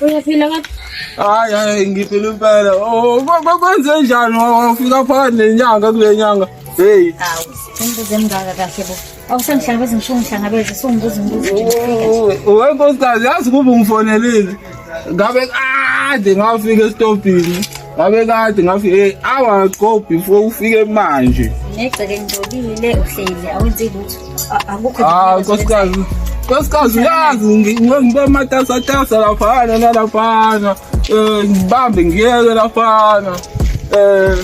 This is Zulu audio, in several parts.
Uyaphila kahle? Hayi hayi ngiphila impela. Oh kwenze njani wafika phakathi nenyanga kule nyanga. Hey. Hawu, umbuzo emngaka kahle bo. Awusangihlangabezi ngisho ungihlangabeze sungibuza umbuzo. Uwe nkosikazi yazi kuba ungifonelile. Ngabe kade ngafika esitobhini. ngabe kade ngafi hey awa go before ufike manje negceke ngijobile uhleli awenzi lutho akukho ah nkosikazi nkosikazi uyazi ngibe matasatasa laphana nalaphana um ngibambe ngiyeke laphana um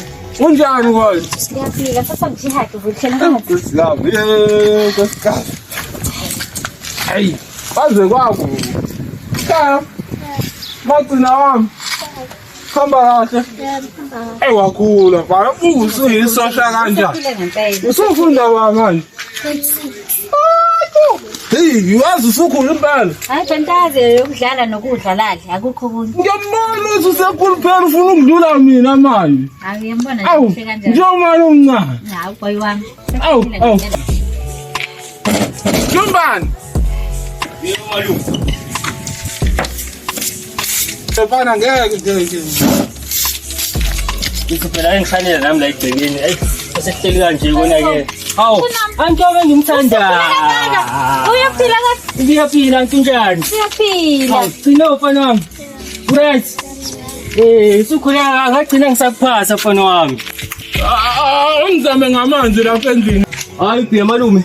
unjani kona ngiyaphila sasa ngijihade vuthela nkosikazi ye nkosikazi hayi kwaze kwakubi kaya magcina wami Hamba kahle. Ey wakhula mfana usuyisosha kanjani? Usufunda wa manje? Hey, yazi usukhulu impela. Hayi fantazi yokudlala nokudla ladla akukho kunye. Ngiyambona uthi usekhulu phela ufuna ukudlula mina manje. Hayi ngiyambona nje kanjani. Njomani omncane. Hayi boy wami. Awu, awu. Njombani. Bana ngeke ngeke. Ngizobhela engifanele nami la egcekeni. Ey, sehleli kanje kona ke. Hawu, antobe ngimthandayo. Uyaphila kahle. Ngiyaphila nkinjani? Uyaphila. Hawu, gcina mfana wami. Right. Eh, sukhula akagcina ngisakuphasa mfana wami. Angizame ngamanzi lapha endlini. Hayi, bhiya malume.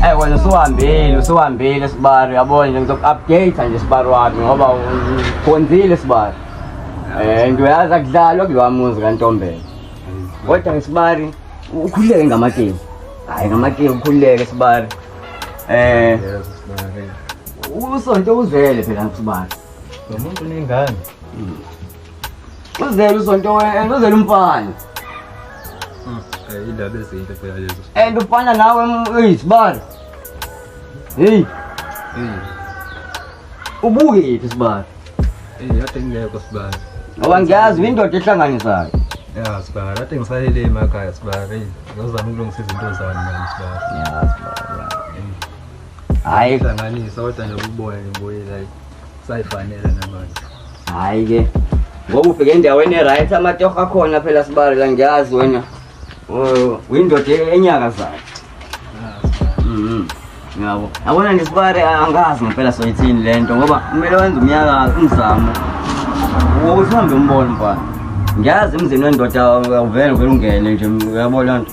Hey eh, wena usuhambile usuhambile sibari yabona nje ngizoku-update nje sibari wami ngoba ukhonzile sibari eh nto yazi akudlalwa kulowa muzi kantombela kodwa ngisibari ukhululeke ngamatebu hhayi ngamatebu ukhululeke sibari eh usonto uzele phela ngisibari lo muntu unengane Uzele usonto wena, uzele umfana. Indaba ah, ezinhle phela lezo. And ufana nawe uyisibalo. Hey. Hey. Ubuke yiphi sibalo? Hey, yathi ngeke sibalo. Ngoba ngiyazi indoda ehlanganisayo. Ya sibalo, yathi ngisalele emakhaya sibalo. Ngizama ukulungisa izinto zami manje sibalo. Ya sibalo. hayi hlanganisa kodwa nje ububoya ngibuye like sayifanele namanje hayi ke ngoba ufike endaweni e-right amatoho akhona phela sibali la ngiyazi wena Oh, uyindoda e-, enyakazayo Mhm. yabo yabona nje sibari a- angazi ngempela soyithini le nto ngoba kumele wenze umyaka umzamo wokuthi uhambe umbone mfana ngiyazi emzini wendoda awuvele uvele ungene nje uyabo loo nto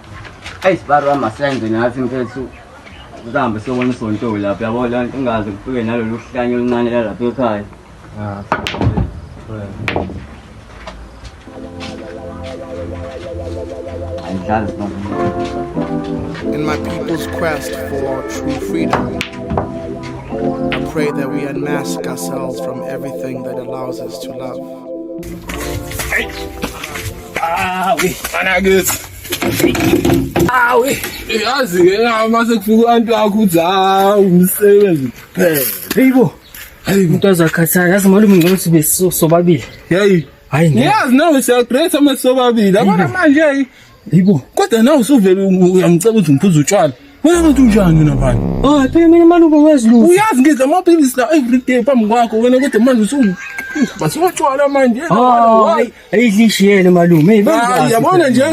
Ayi sibari wami asenze nathi mfethu kuhambe siyobona isonto lapho yabo la ingaze kufike nalolu hlanye oluncane lalapha ekhaya Ah, angihlali sibari In my people's quest for true freedom, I pray that we unmask ourselves from everything that allows us to love. Ah, we, Anagus. Awu, yazi ke uma sekufika abantu wakho uthi hawu umsebenzi kuphela. Heyibo. Heyibo. Umuntu azakhathala, yazi malume ngcono sibe sobabili. Hey. Hayi ngeke. Yazi nawe siya great uma sobabili. Abona manje hey. Heyibo. Kodwa nawe usuvele uyangicela ukuthi ngiphuze utshwala. Wena ngathi unjani wena mfana? Oh, phela mina malume wazi lutho. Uyazi ngidla amaphilisi la every day phambi kwakho wena kodwa manje usu Basotshwala manje. Oh, Hayi lishiyele malume. Hey, Hayi yabona nje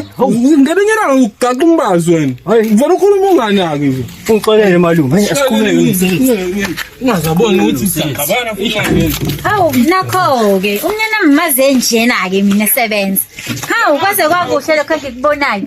ngebenyelanga ukugaqa umbazi wena. Hayi. Ngifuna ukhuluma unganaki nje. Ungixolele malume. Hey, asikhuleke. Ungazabona ukuthi siyagabana futhi ngeke. Hawu nakho-ke umnyana mmaze njena-ke mina sebenza. Hawu kwaze kwakuhle lokho engikubonayo.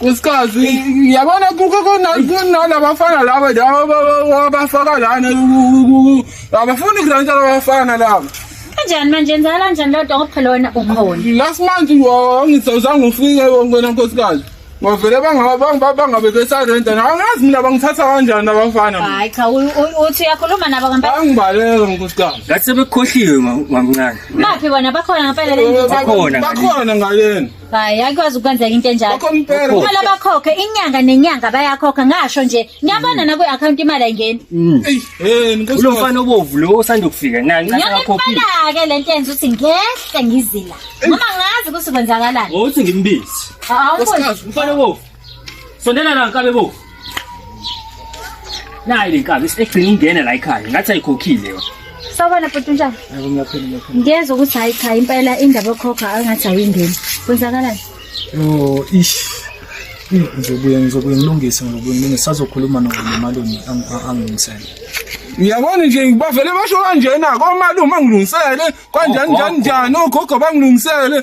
Nkosikazi yabona kuke kunalabafana laba abafaka lana abafuni kulantsha labafana laba kanjani manje nzala kanjani lodwa ngoba phela wena ukhona last month ngizozange ufike wena nkosikazi ngavele bangabe besarenta nawe ngazi mina bangithatha kanjani abafana hayi cha uthi uyakhuluma nabo ngempela angibaleka nkosikazi ngathi sebekhohliwe mamncane baphi bona bakhona ngempela le bakhona ngalena hayi akwazi ukwenzeka into enjalo Bakho impela. kumele bakhokhe inyanga nenyanga bayakhokha ngasho nje niyabona nakwi-akhawunti imali ayingeni Eyi, eh, nkosi kulo yami. mfana obovu lo osanda kufika nani ncathi yona akakhophile impela-ke le nto yenza ukuthi ngehle ngizila noma ngazi ukuthi kwenzakalani uthi ngimbizi Awu, Nkosikazi, umfana obovu Sondela la nkabe bo. Nayi le nkabe egcina ingene la ekhaya ngathi ayikhokhile yona. Sawubona bhuti njani? Yebo ngiyaphila ngiyaphila. Ngiyezwa ukuthi hayi cha impela indaba yokhokha angathi ayingeni. Kwenzakalani? Yo ish. Ngizobuye ngizobuye ngilungise ngizobuye ngilungise sazokhuluma nomalume angimisele. Uyabona nje ngibavele basho kanjena komalume angilungisele kanjani njani njani ogogo bangilungisele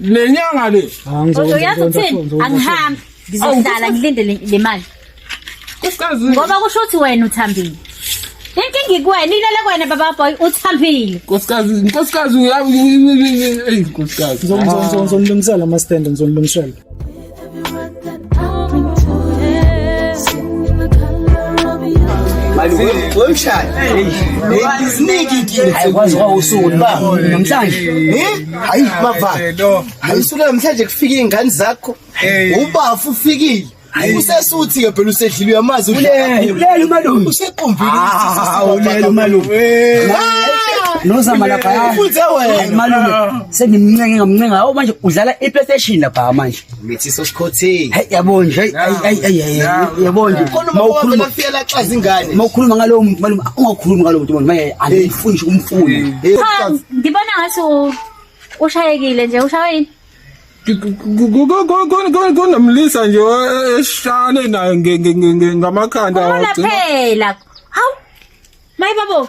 Nenyanga le. Kodwa uyazi ukuthini? Angihambi. Ngizohlala ngilinde le mali. Kukazi. Ngoba kusho ukuthi wena uthambile. Inkinga ikwena ilele kwena baba boy uthambile. Nkosikazi, nkosikazi uyayi. Ey nkosikazi. Ngizomlungisela ama stand ngizomlungisela. ayikwazi kwawusuku ba namhlanje hayi bava ayisuku namhlanje kufika iy'ngane zakho ubafu ufikile usesuthi ke phela usedlile uyamazi ulela umalume usequmbile ulela umalume nozama lapha malume sengimncenge ngamncenga awu manje udlala iplaystation lapha manje mithi sosikhothini hey yabo nje hey hey hey yabo nje mawukhuluma ngafiyela xa zingane mawukhuluma ngalowo muntu malume ungakhulumi ngalowo muntu manje angifunde umfundi ngibona ngathi ushayekile nje ushayile kunomlisa nje eshane naye ngamakhanda phela hawu mayi babo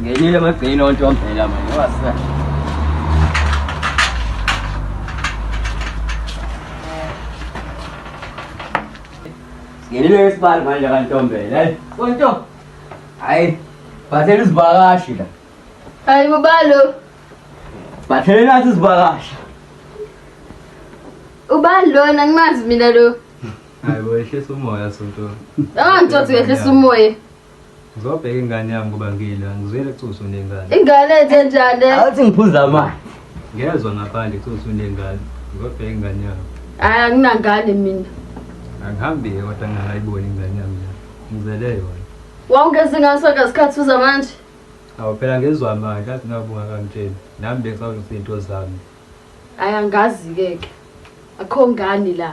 Ngenile amagcini onto wambhela manje wasa. Ngenile esibali manje kantombela. Hayi. Konto. Hayi. Bathela izivakashi la. Hayi bobalo. Bathela nathi izivakashi. Ubani lona ngimazi mina lo. Hayi bo ehlisa umoya sonto. Awangitshothi ngehlisa umoya. Ngizobheka ingane yami ngoba ngile angizweli ukuthi usunengane. Ingane enze njani? Awuthi ngiphuza amanzi. Ngezwe ngaphandle ukuthi usunengane. Ngizobheka ingane yami. Hayi anginangane mina. Angihambi kodwa ngingayiboni ingane yami. Ngizele yona. Wawungezi ngaso ke isikhathi uza manje. Awu phela ngezwa manje athi ngabunga kangitsheni. Nami bengisawuthi into zami. Hayi angazi ke ke. Akho ngani la.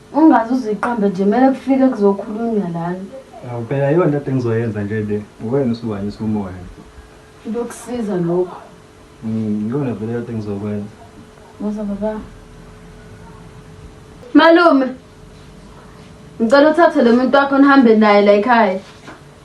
Ungaze uziqambe nje mele kufike kuzokhulunywa lana. Awu phela yona into engizoyenza nje le. Uwena usuwanyisa umoya. Into yokusiza lokho. Mm, yona vele into engizokwenza. Musa baba. Malume. Ngicela uthathe lo muntu wakho nihambe naye la ekhaya.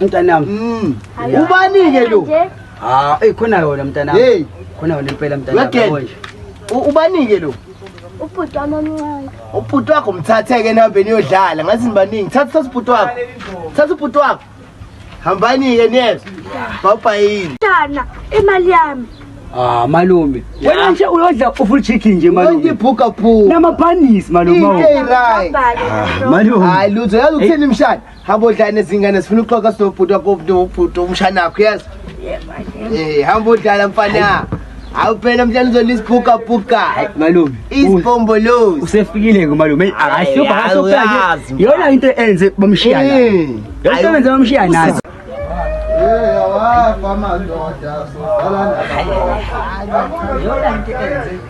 mntanami mm. ubani-ke lo ha eyi khona yona mntanami hey khona yona impela mntanami ubani-ke lo ubhuti wami omncane ubhuti wakho mthathe-ke nihambeni yodlala ngathi nibaningi thatha thatha ubhuti wakho thatha ubhuti wakho hambani-ke niyezwa bawubhayini shana imali yami Ah malume. Wena nje uyodla ufull chicken nje malume. Wonke bhuka bhuka. Nama panis malume. Hey right. Malume. Hayi lutho yazi ukuthini mshana. hamba odlala nezingane zifuna ukuxoxa sinobhuti wakobhuti umshana wakho yazi um hamba odlala mfana hawu phela mhlawumbe uzona isibhukabhuka malume isibhombolozi usefikile-ke malume eyi akasiyobhakasopela yona into enze bamshiya nayo yona into enze bamshiya nayo wafa madoda soqala nabanye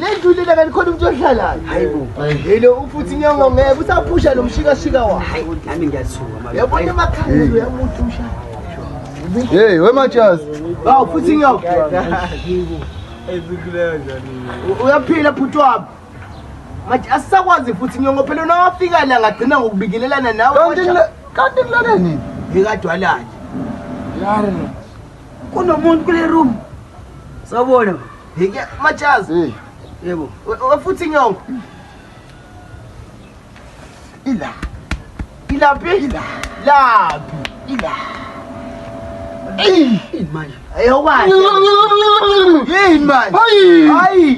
ledlulile kanti khona umuntu ohlalayo yilo ufuthi nyongo ngeke usaphusha lo mshikashika wayoyabona emakhaleni uyamuthi umshaya Hey, where my chairs? Wow, putting up. Uyaphila bhuti wami. Manje asisakwazi futhi nyongo phela unawafika la ngagcina ngokubikelelana nawe. Kanti kanti kulale nini? Yekadwalani. Yaro. kunomuntu kule room sawubona hike majazi hey yebo wafuthi inyongo ila ilaphi ila laphi ila Hey, man. Hey, what? Hey, man. Hey. Hey.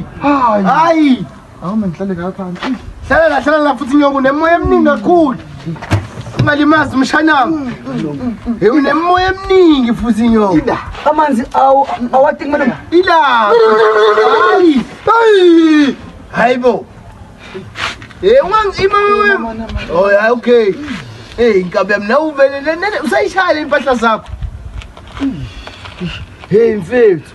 Hey. Awu mangihlale la phansi. Hlala la hlala la futhi nyoka unemoya eminingi kakhulu. Ungalimazi umshanami. Hey unemoya eminingi futhi nyoka. Ida amanzi awu awati kumele ila. Hayi. Hayi. Hayibo. Hey ungangi imama. Oh yeah okay. Hey inkabe mina uvelele nene usayishaya impahla zakho. Hey mfethu.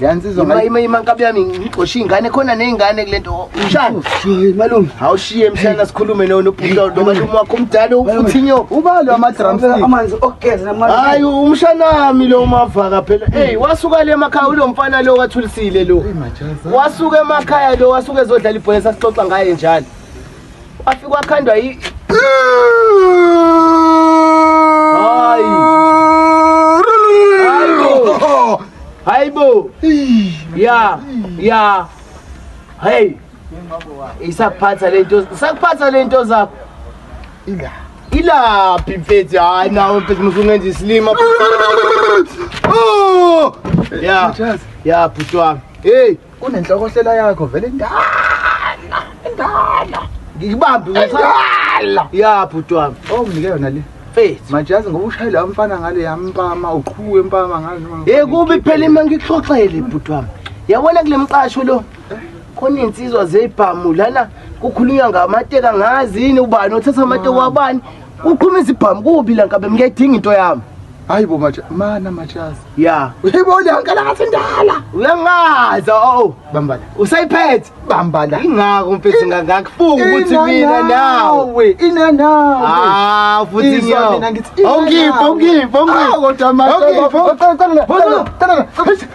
Yansizwa ima ima ima nkabi yami ngixoshe ingane khona nezingane kulento mshana malume awushiye mshana sikhulume no nobhudo nomalume wakho umdala ufuthi nyo ubalo ama drums amanzi okugeza namanzi hayi umshanami lo umavaka phela hey wasuka le emakhaya ulo mfana lo wathulisile lo wasuka emakhaya lo wasuka ezodlala ibhola sasixoxa ngaye njalo Kwafika kwakhandwa yi Hayi. Hayibo. Hayibo. Ya, ya. Hey. Isakuphatha lento, sakuphatha lento zakho. Ila. Ilaphi mfethu? Hayi nawe mfethu musungenza isilima. Oh! Ya. Ya bhuti wami. Hey. Kunenhlokohlela yakho vele ndala. Ndala. Ngikubambi ngithanda. Ya bhuti wami. Oh mnike yona le. Faith. Manje yazi ngoba ushayile wamfana ngale yampama uqhuwe impama ngale noma. Hey kubi phela ima ngikuxoxele bhuti wami. Yabona kule mqasho lo. Khona insizwa zebhamu lana kukhulunywa ngamateka ngazi yini ubani othatha amateka wabani. Uqhuma izibhamu kubi la nkabe ngiyayidinga into yami. hayi bo maja mana majazi ya uyibo liyonke la ngathi ndala uyangaza o bambala usayiphethe bambala ingako mfethu ngangakufuni ukuthi mina nawe ina nawe ah futhi ngiyo awungiphi awungiphi awungiphi kodwa manje awungiphi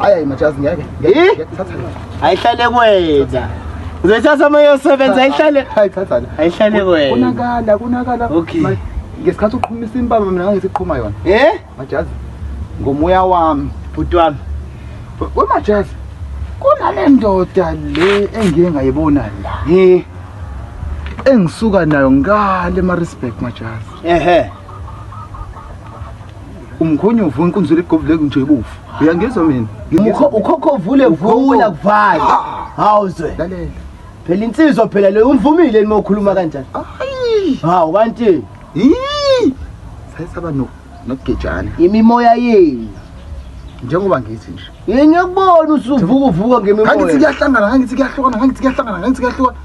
Ayayi majazi ngeke. Ngeke thatha le. Ayihlale kwetha. Uzoyithatha uma yosebenza ayihlale. Hayi thatha le. Ayihlale kwetha. Kunakala kunakala. Okay. Ngesikhathi uqhumisa impama mina ngangisiqhuma yona. Eh? Majazi. Ngomoya wami. Bhuti wami. Wemajazi. Kunale ndoda le engiye ngayibona la. Eh. Engisuka nayo ngale ma respect majazi. Ehhe. umkhonyo uvula inkunzi legobule kunje ibufu uyangizwa mina ukhokho uvule vula kuvale hawuzwe lalela phela insizwa phela leyo umvumile nima ukhuluma kanjani hawu kanti sayisaba nokugejana imimoya yenu njengoba ngithi nje yini ngiyakubona usuvuka uvuka ngemimoya kangithi kuyahlangana kangithi kuyahlukana kangithi kuyahlangana kangithi kuyahlukana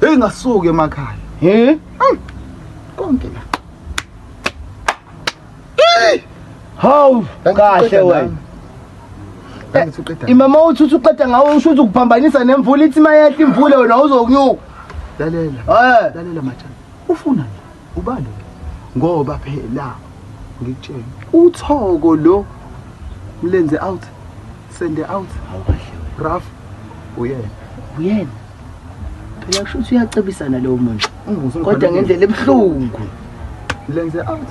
heyi ngasuke emakhaya he hmm. konke la Hawu kahle wena. Imama uthi uthi uqeda ngawe usho ukuthi ukuphambanisa nemvula ithi mayehla imvula wena uzokunyuka. Lalela. Eh. Lalela mathana. Ufuna nje ubani ngoba phela ngikutshela uthoko lo mlenze out Sende out. Awukahle wena. Raf. Uyena. Uyena. Phela kusho ukuthi uyacebisana lowo muntu. Kodwa ngendlela ebuhlungu. Lenze out.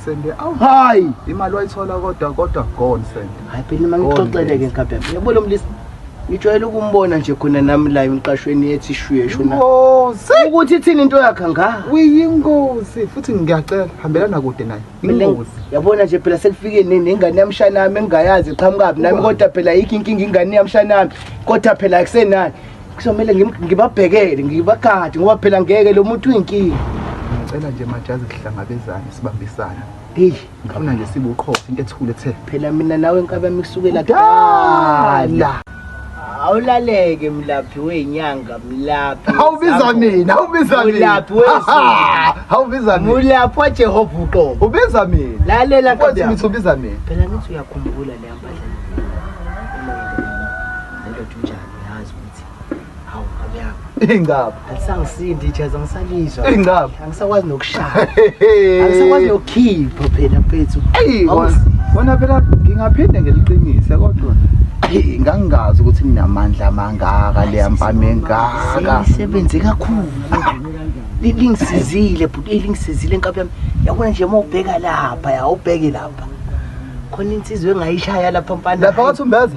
Sende out. Hayi. Imali wayithola kodwa kodwa gone sende. Hayi phela uma ngixoxele ke nkabe. Yabo lo mlisa. Ngijwayele ukumbona nje khona nami la emqashweni ethi shwiye shona. Ukuthi ithini into yakhe nga? Uyingozi futhi ngiyacela hambelana kude naye. Ingozi. yabona nje phela sekufike ne- nengane yamshana yami engingayazi iqhamukaphi nami kodwa phela yikho inkinga ingane yamshana yami kodwa phela akusenani kuzomele ngim- ngibabhekele ngibagade ngoba phela ngeke lo muntu uyinkinga ngicela nje majazi sihlangabezane sibambisane eyi ngifuna nje sibuqhosa into ethule ethe phela mina nawe nkabami kusukela Kudala. kudala awulaleke mlaphi wenyanga mlaphi awubiza mina awubiza mina awubiza mina mulaphi wajehova uqobo ubiza mina lalela nkosi mithi ubiza mina phela ngithi uyakhumbula le ambadla Hawu nkomo yami. Ingaba. Alisangisindi ijazi angisalizwa. Ingaba. Angisakwazi nokushaya. Angisakwazi nokukhipha phela mfethu. Eyi wona phela ngingaphinde ngeliqinise kodwa ngangingazi ukuthi ninamandla amangaka leya mpama engaka. Sebenze kakhulu. lingisizile bhuti lingisizile nkabi yami yabona nje uma ubheka lapha ya ubheke lapha khona insizwe engayishaya lapha mfana lapha wathi umbeza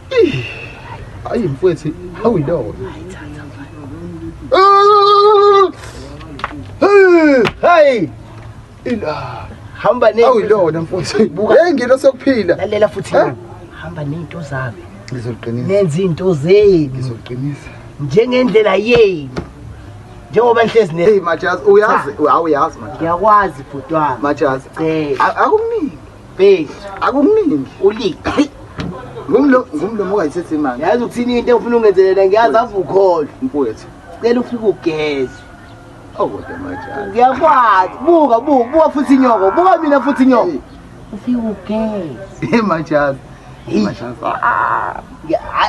Ayi mfwethu, how we know? Hey! Ila. Hamba ne. How we know mfwethu? Buka. Hey ngilo sokuphila. Lalela futhi. Hamba nezinto zami. Ngizoqinisa. Nenza into zenu. Ngizoqinisa. Njengendlela yenu. njengoba nihlezi ne hey majazi uyazi awuyazi majazi ngiyakwazi bhuti wami majazi akumningi Base. Akukuningi. Ulik. Ngumlo ngumlomo ongayithethe imali. Yazi ukuthini into engifuna ungenzelela ngiyazi avukholwa. Mfowethu. Cela ufike ugeze. Oh kodwa majala. Ngiyakwazi. Buka buka buka futhi inyoko. Buka mina futhi inyoko. Ufike ugeze. Hey majala. Hey majala. Ah.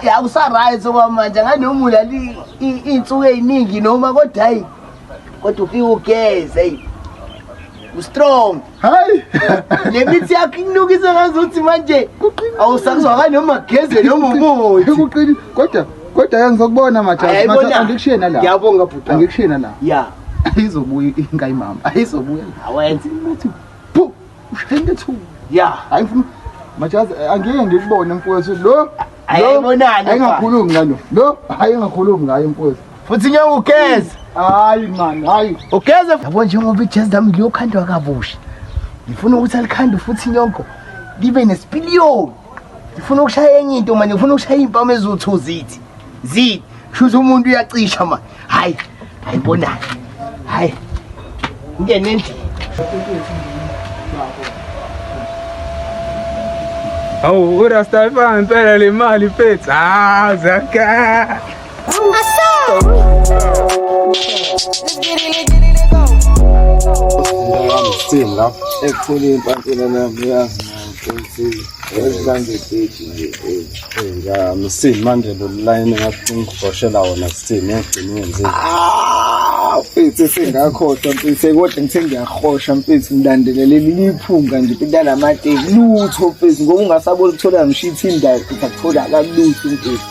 Yakusaright okwamanje nganomula insuku eziningi noma kodwa hayi kodwa ufike ugeze. Hey. Ustrong. hayi le mithi yakho ikunukisa ngazuthi manje awusakuzwakali noma geze noma umuthi ekuqini kodwa kodwa ke ngizokubona majazi majazi angikushiye nala ngiyabonga bhuti angikushiye nala ya ayizobuya inka imama ayizobuya awenze umuthi phu ushenge thu ya hayi mfuna majazi angeke ngikubone mfowethu lo ayibonani engakhulumi ngalo lo hayi engakhulumi ngayo mfowethu futhi ngeke ugeze hayi man hayi ugeze yabo njengoba ijezi lami liyokhandwa kabusha ngifuna ukuthi alikhandwe futhi inyongo libe nesipiliyoni ngifuna ukushaya enye into manje ngifuna ukushaya iy'mpamu eziwu-two zithi zithi kushuthi umuntu uyacisha manje hhayi hhayi bonayo hhayi ngene endlini awu urasta impela le mali fethu hawu zaka Sithinga ekhulu impantshela nami yazi msini manje lolayini ngakungighoshela wona sithini yagcina wenzile mfethu esengakhohlwa mfethu kodwa ngithe ngiyahosha mfethu ngilandelele liphunga nje intanamate lutho mfethu ngoba ungasabona ukuthola ngisho ithindayakuthola kalutho mfethu